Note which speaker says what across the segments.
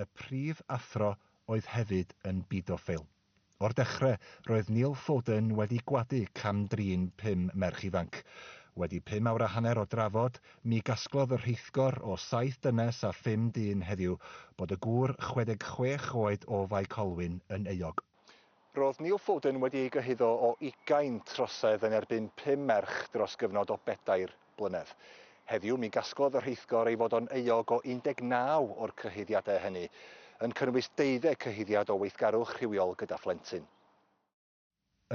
Speaker 1: Y prif athro oedd hefyd yn bidofil. O'r dechrau, roedd Neil Foden wedi gwadu cam-drin pum merch ifanc. Wedi pum awr a hanner o drafod, mi gasglodd y rheithgor o saith dynes a phum dyn heddiw bod y gŵr 66 oed o Fae Colwyn yn euog. Roedd Neil Foden wedi ei gyhuddo o ugain trosedd yn erbyn pum merch dros gyfnod o bedair blynedd. Heddiw, mi gasglodd y rheithgor ei fod o'n euog o 19 o'r cyhuddiadau hynny, yn cynnwys deuddeg cyhuddiad o weithgarwch rhywiol gyda phlentyn.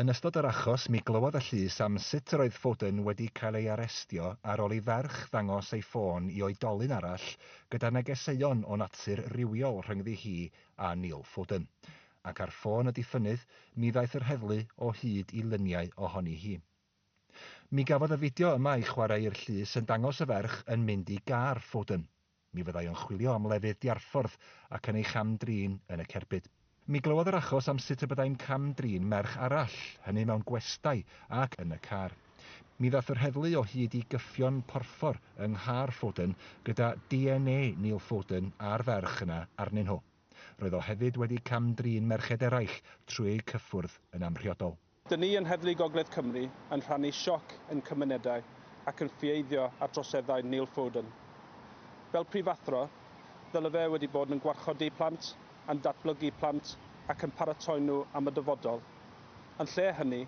Speaker 1: Yn ystod yr achos, mi glywodd y llys am sut yr oedd Foden wedi cael ei arestio ar ôl i ferch ddangos ei ffôn i oedolyn arall gyda negeseuon o natur rywiol rhyngddi hi a Neil Foden. Ac ar ffôn y diffynnydd, mi ddaeth yr heddlu o hyd i luniau ohoni hi. Mi gafodd y fideo yma ei chwarae i'r llys yn dangos y ferch yn mynd i gar Foden. Mi fyddai o'n chwilio am lefydd diarffordd ac yn ei cham-drin yn y cerbyd. Mi glywodd yr achos am sut y byddai'n cam-drin merch arall, hynny mewn gwestai ac yn y car. Mi ddaeth yr heddlu o hyd i gyffion porffor yng nghar Foden gyda DNA Neil Foden a'r ferch yna arnyn nhw. Roedd o hefyd wedi cam-drin merched eraill trwy eu cyffwrdd yn amhriodol. Dŷn ni yn Heddlu Gogledd Cymru yn rhannu sioc ein cymunedau ac yn ffieiddio ar droseddau Neil Foden. Fel prifathro, ddyle fe wedi bod yn gwarchodi plant, yn datblygu plant ac yn paratoi nhw am y dyfodol. Yn lle hynny,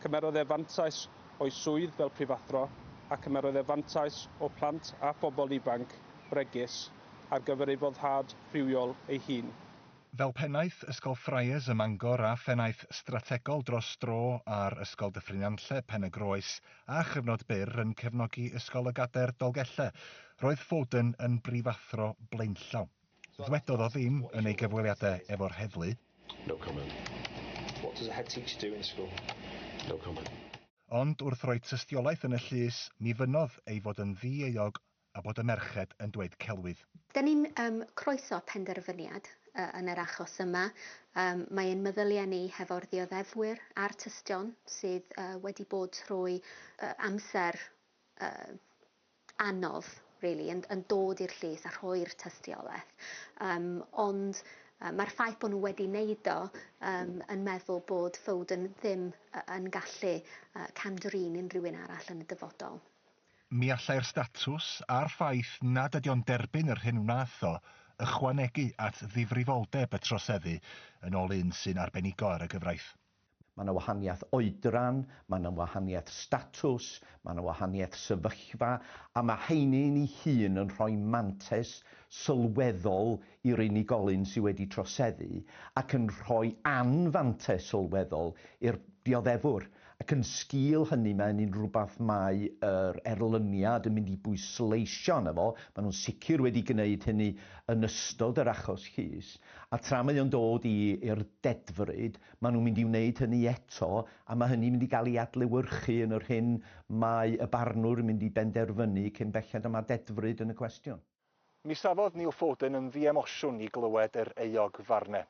Speaker 1: cymerodd e fantais o'i swydd fel prifathro a chymerodd e fantais o plant a phobl ifanc bregus. ar gyfer ei foddhad rhywiol ei hun. Fel Pennaeth Ysgol Friars ym Mangor a Phennaeth Strategol dros dro ar Ysgol Dyffryn Nantlle, Pen-y-groes, a chyfnod byr yn cefnogi Ysgol y Gadair, Dolgellau, roedd Foden yn brifathro blaenllaw. Ddwedodd o ddim yn ei gyfweliadau efo'r heddlu. No comment. What does a head teacher do in school? No comment. Ond wrth roi tystiolaeth yn y llys, mi fynnodd ei fod yn ddi-euog A bod y merched yn dweud celwydd. Dan ni'n um, croeso penderfyniad uh, yn yr achos yma. Um, mae ein meddyliau ni hefo'r ddioddefwyr a'r tystion sydd uh, wedi bod trwy uh, amser uh, anodd really, yn, yn dod i'r llys a rhoi'r tystiolaeth. Um, ond uh, mae'r ffaith bod nhw wedi wneud o um, yn meddwl bod Foden ddim uh, yn gallu uh, camdrin unrhyw un arall yn y dyfodol. Mi allai'r statws, a'r ffaith nad ydy o'n derbyn yr hyn wnaeth o, ychwanegu at ddifrifoldeb y troseddu, yn ôl un sy'n arbenigo ar y gyfraith. Mae yna wahaniaeth oedran, mae yna wahaniaeth statws, mae yna wahaniaeth sefyllfa, a mae hynny'n ei hun yn rhoi mantais sylweddol i'r unigolyn sydd wedi troseddu ac yn rhoi anfantais sylweddol i'r dioddefwr. Ac yn sgîl hynny, mae hynny'n rhywbeth mae yr erlyniad yn mynd i bwysleisio arno fo, maen nhw'n sicr wedi gwneud hynny yn ystod yr achos llys, a tra mae o'n dod i i'r dedfryd, maen nhw'n mynd i wneud hynny eto, a mae hynny'n mynd i gael ei adlewyrchu yn yr hyn mae y barnwr yn mynd i benderfynu cyn belled a mae dedfryd yn y cwestiwn. Mi safodd Neil Foden yn ddiemosiwn i glywed yr euog Varne.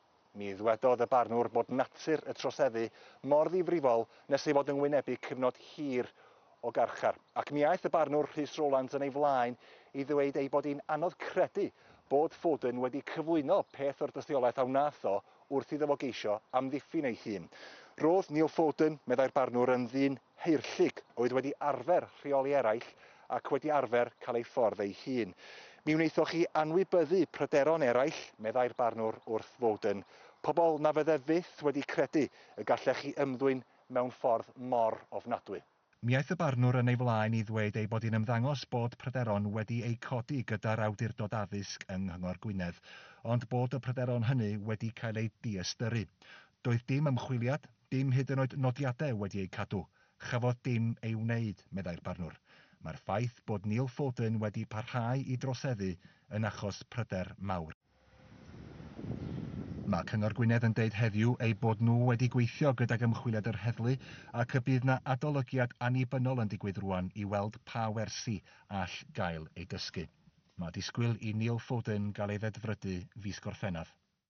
Speaker 1: Mi ddwedodd y barnwr bod natur y troseddu mor ddifrifol nes ei fod yn wynebu cyfnod hir o garchar, ac mi aeth y barnwr Rhys Rowlands yn ei flaen i ddweud ei bod hi'n anodd credu bod Foden wedi cyflwyno peth o'r dystiolaeth a wnaeth o wrth iddo fo geisio amddiffyn ei hun. Roedd Neil Foden, meddai'r barnwr, yn ddyn Haerllug, oedd wedi arfer rheoli eraill ac wedi arfer cael ei ffordd ei hun. Mi wnaethoch chi anwybyddu pryderon eraill, meddai'r barnwr wrth Woden, pobl na fydde fyth wedi credu y gallech chi ymddwyn mewn ffordd mor ofnadwy. Mi aeth y barnwr yn ei flaen i ddweud ei bod hi'n ymddangos bod pryderon wedi eu codi gyda'r awdurdod addysg yng Nghyngor Gwynedd, ond bod y pryderon hynny wedi cael eu diystyru. Doedd dim ymchwiliad, dim hyd yn oed nodiadau wedi eu cadw, chafodd dim ei wneud, meddai'r barnwr. Mae'r ffaith bod Neil Foden wedi parhau i droseddu yn achos pryder mawr. Mae Cyngor Gwynedd yn deud heddiw eu bod nhw wedi gweithio gydag ymchwiliad yr heddlu ac y bydd 'na adolygiad annibynnol yn digwydd rŵan i weld pa wersi all gael eu dysgu. Mae disgwyl i Neil Foden gael ei ddedfrydu fis Gorffennaf.